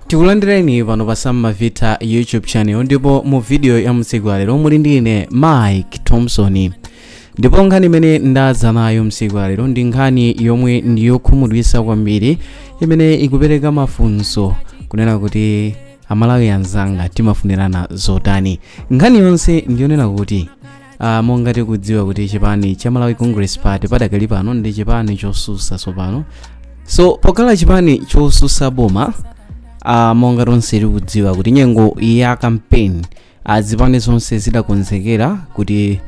tikulandireni pano pa samma vita youtube channel ndipo mu video ya m'tsiku la lero muli ndi ine mike thompson ndipo nkhani imene ndadza nayo m'tsiku la lero ndi nkhani yomwe ndi yokhumudwisa kwambiri imene ikupereka mafunso kunena kuti amalawi anzanga timafunirana zotani nkhani yonse ndiyonena kuti Uh, monga tikudziwa kuti chipani cha malawi congress party padakali pano ndi chipani chosusa tsopano so pokhala chipani chosusa boma uh, monga tonse tikudziwa kuti nyengo ya kampeni uh, zipani zonse zidakonzekera kuti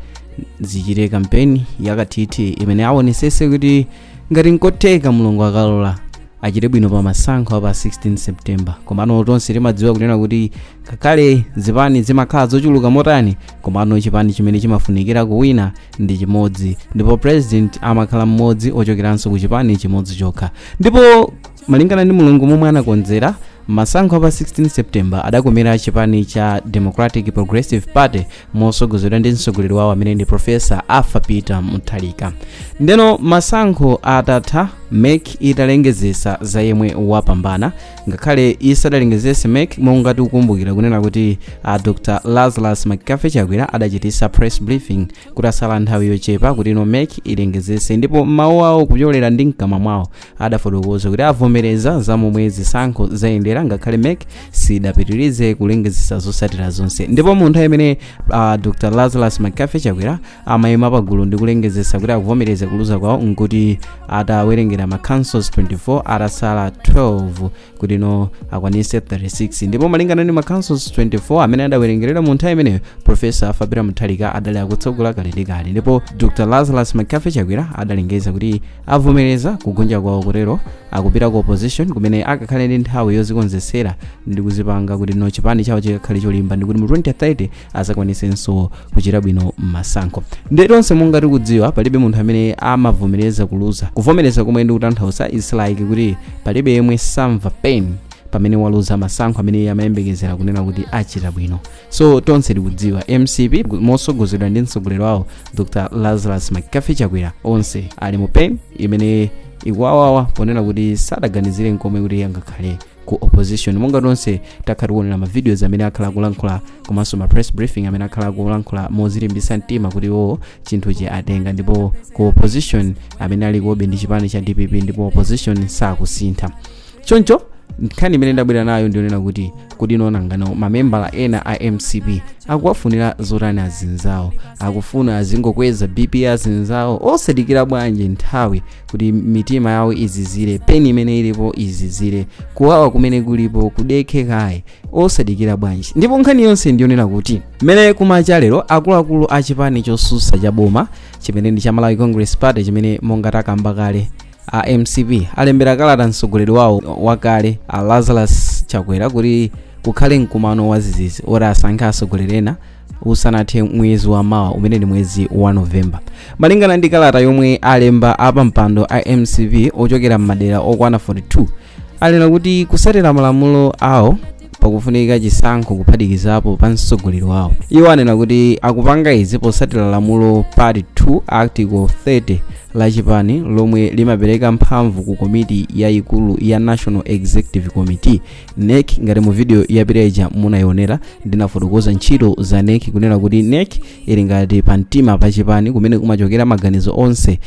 zichite kampeni yakathithi imene awonesese kuti ngati nkotheka mulungu akalola achite bwino pa masankho a pa 16 september komano tonse timadziwa kunena kuti ngakhale zipani zimakhala zochuluka motani komano chipani chimene chimafunikira kuwina ndi chimodzi ndipo president amakhala mmodzi ochokeranso ku chipani chimodzi chokha ndipo malingana ndi mulungu momwe anakonzera masankho a pa 16 september adakomera chipani cha democratic progressive party mosogozedwa ndi mtsogoleri wawo amene ndi profesa arthur peter mutharika ndeno masankho atatha mec italengezesa za yemwe wapambana ngakhale isadalengezese mec monga tikukumbukira kunena kuti a dr lazarus mccarthy chakwera adachitisa press briefing kutatsala nthawi yochepa kutino mec ilengezese ndipo mawu awo kupyolera ndi mkamwa mwawo adafotokoza kuti avomereza za momwe zisankho zayendera ngakhale mec sidapitirize kulengezesa zotsatira zonse ndipo mu nthawi imene uh, dr lazarus mccarthy chakwera amayima pagulu ndi kulengezesa kuti akuvomereza kuluza kwawo nkuti atawerengera ma councils 24 atasala 12 kutino akwanise 36 ndipo malingana ndi ma councils 24 amene adawerengerera mu nthawi imeneyo profesa arthur peter mutharika adali akutsogola kale ndi kale ndipo dr lazarus mccarthy chakwera adalengeza kuti avomereza kugonja kwawo kutero akupita ku opposition kumene akakhale ndi nthawi yozikonzetsera ndi kuzipanga kutino chipani chawo chikakhale cholimba ndi kuti mu 2030 azakwanisenso kuchita bwino mmasankho ndi tonse monga tikudziwa palibe munthu amene amavomereza kuluza kuvomereza komwe ndikutanthauza is like kuti palibe yemwe samva pain pamene waluza masankho amene iye amayembekezera kunena kuti achita bwino so tonse tikudziwa mcp mosogozedwa ndi mtsogoleri wawo dr lazarus mccarthy chakwera onse ali mu pain imene ikuwawawa ponena kuti sadaganizire nkomwe kuti angakhale ku opposition monga tonse takhala tikuonera ma videos amene akhala akulankhula komanso ma press briefing amene akhala akulankhula mozilimbisa mtima kuti iwowo chinthuchi atenga ndipo ku opposition amene ali kukobe ndi chipani cha dpp ndipo opposition sakusintha choncho nkhani imene ndabwera nayo ndionena kuti kodi nano nanga mamembala ena a mcp akuwafunira zotani azinzawo akufuna azingokweza bp azinzawo osadikira bwanji nthawi kuti mitima yawo izizire pain imene ilipo izizire kuwawa kumene kulipo kudekhe kaye osadikira bwanji ndipo nkhani yonse ndiyonena kuti mmene kumacha lero akuluakulu a chipani chosusa cha boma chimene ndi cha malawi congress party chimene monga takamba kale a mcp alembera kalata mtsogoleri wawo wakale a lazarus chakwera kuti kukhale mkumano wazizizi oti asankhe atsogoleri ena usanathe mwezi wa mawa umene ndi mwezi wa novemba malingana ndi kalata yomwe alemba apampando a mcp ochokera m'madera okwana 42 anena kuti kusatira malamulo awo pakufunika chisankho kuphatikizapo pa mtsogoleri wawo iwo anena kuti akupanga izi posatira lamulo part 2 article 30 la chipani lomwe limapereka mphamvu ku komiti yayikulu ya national executive committee NEC ngati mu video yapita ija munayionera ndinafotokoza ntchito za NEC kunena kuti NEC ili ngati pa mtima pa chipani kumene kumachokera maganizo onse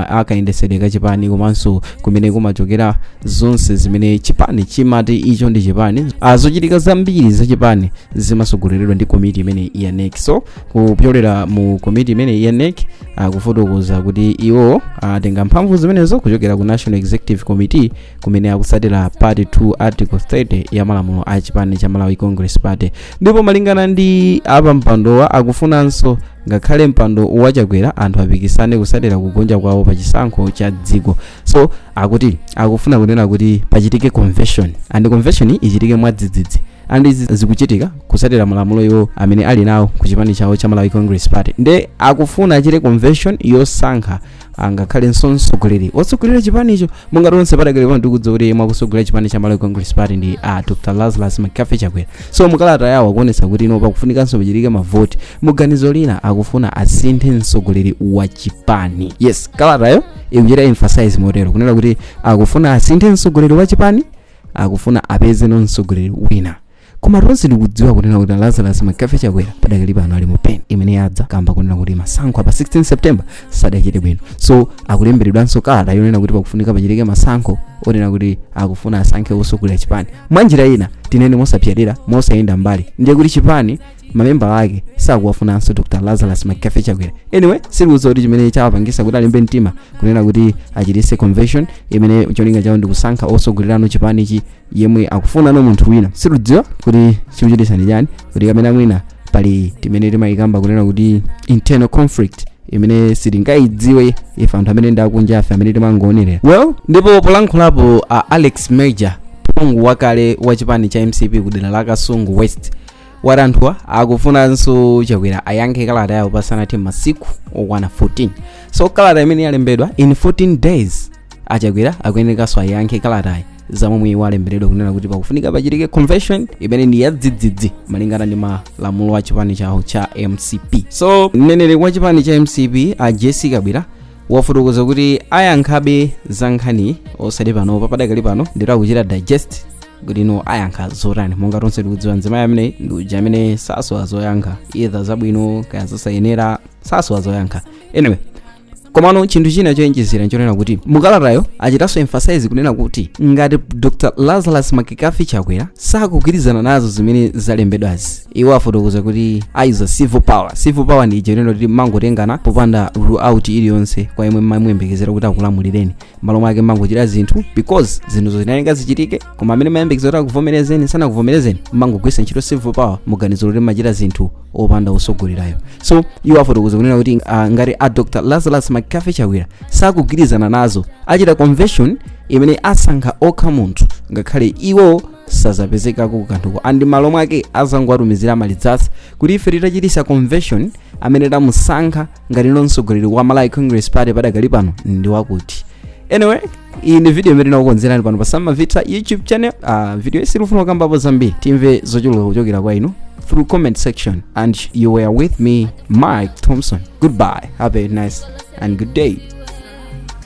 akayendesedwe ka chipani komanso kumene kumachokera zonse zimene chipani chimati icho ndi chipani Ah, zochitika zambiri za chipani zimasogoleredwa ndi komiti imene ya NEC so kupyolera mu komiti imene ya NEC akufotokoza kuti iwo atenga mphamvu zimenezo kuchokera ku national executive committee kumene akusatira part 2 article 30 ya malamulo a chipani cha malawi congress party ndipo malingana ndi apampandowa akufunanso ngakhale mpando wa chakwera anthu apikisane kusatira kugonja kwawo pa chisankho cha dziko so akuti akufuna kunena kuti pachitike convention and convention ichitike mwadzidzidzi and izi zikuchitika kusatira malamulo iwo amene ali nawo ku chipani chawo cha malawi congress party nde akufuna achite convention yosankha angakhale mtsogoleri otsogolera chipanicho monga tonse padakali pano tikudziwa kuti yemwe akutsogolera chipani cha malawi congress party ndi a dr lazarus mccarthy chakwera so mukalata yawo akuonetsa kuti ino pakufunikanso pachitike mavoti muganizo lina akufuna asinthe mtsogoleri wa chipani yes kalatayo ikuchita emphasize motero kunena kuti akufuna asinthe mtsogoleri wa chipani akufuna apezeno mtsogoleri wina koma tonse tikudziwa kunena kuti lazarus mccarthy chakwera padakali pano ali mu pain imene yadza kamba kunena kuti masankho a pa 16 september sadachite bwino so akulemberedwanso kalata yonena kuti pakufunika pachitike masankho onena kuti akufuna asankhe osogolera chipani mwa njira ina tinene mosapsatira mosayenda mbali ndiye kuti chipani mamembala ake sakuwafunanso dr lazarus mccarthy chakwera anyway sitikudziwa kuti chimene chawapangisa kuti alimbe mtima kunena kuti achitise convention imene cholinga chawo ndikusankha osogolerano chipanichi yemwe akufunano munthu wina sitikudziwa kuti chikuchititsa ndi chani kuti kapena mwina pali timene timayikamba kunena kuti internal conflict imene sitingayidziwe ife anthu amene ndi akunjafe amene timangoonelera well ndipo polankhulapo a alex major phungu wakale wa chipani cha mcp ku dera la kasungu west wati anthuwa akufunanso achakwera ayankhe kalata yawo pasanathe masiku okwana 14 so kalata imene yalembedwa in 14 days achakwera akuyenekanso ayankhe kalatayi zamomwe iwo alemberedwa kunena kuti pakufunika pachitike convention imene ndi yadzidzidzi malingana ndi malamulo a chipani chawo cha mcp so mneneri wa chipani cha mcp a jessie kabwira wafotokoza kuti ayankhabe za nkhaniyi osati panopa padakali pano ndiye kuti akuchita digest kuti nanga ayankha zotani monga tonse tikudziwa mzimayi ameneyi ndi uja amene sasowa zoyankha either zabwino kaya zosayenera sasowa zoyankha anyway komano chinthu china choyenjezera nchonena kuti mukalatayo achitanso emphasize kunena kuti ngati dr lazarus mccarthy chakwera sakugwirizana nazo zimene zalembedwazi iwo afotokoza kuti ayuza civil power civil power ndi ija yonena kuti mmangotengana popanda rule out iliyonse kwa yemwe mmamuyembekezera kuti akulamulireni malo mwake mmangochita zinthu because zinthuzo zinayenera zichitike koma amene mmayembekezera kuti akuvomerezeni sanakuvomerezeni mmangogwisa ntchito civil power muganizo loti mmachita zinthu opanda atsogoleriwo so iwo afotokoza kunena kuti uh, ngati a dr lazarus mccarthy chakwera sakugwirizana nazo achita convention imene asankha okha munthu ngakhale iwo sazapezekako kumaloko and malo mwake azangowatumizira ma results kuti ife tinachititsa convention amene tamusankha ngati mtsogoleri wa malawi congress party padakali pano ndi wakuti anyway iyi ndi video imene tinakukonzerani pano pa samavita youtube channel uh, video iyi sitikufuna kukambapo zambiri timve zochuluka kuchokera kwa inu through comment section and you were with me mike thompson goodbye have a nice and good day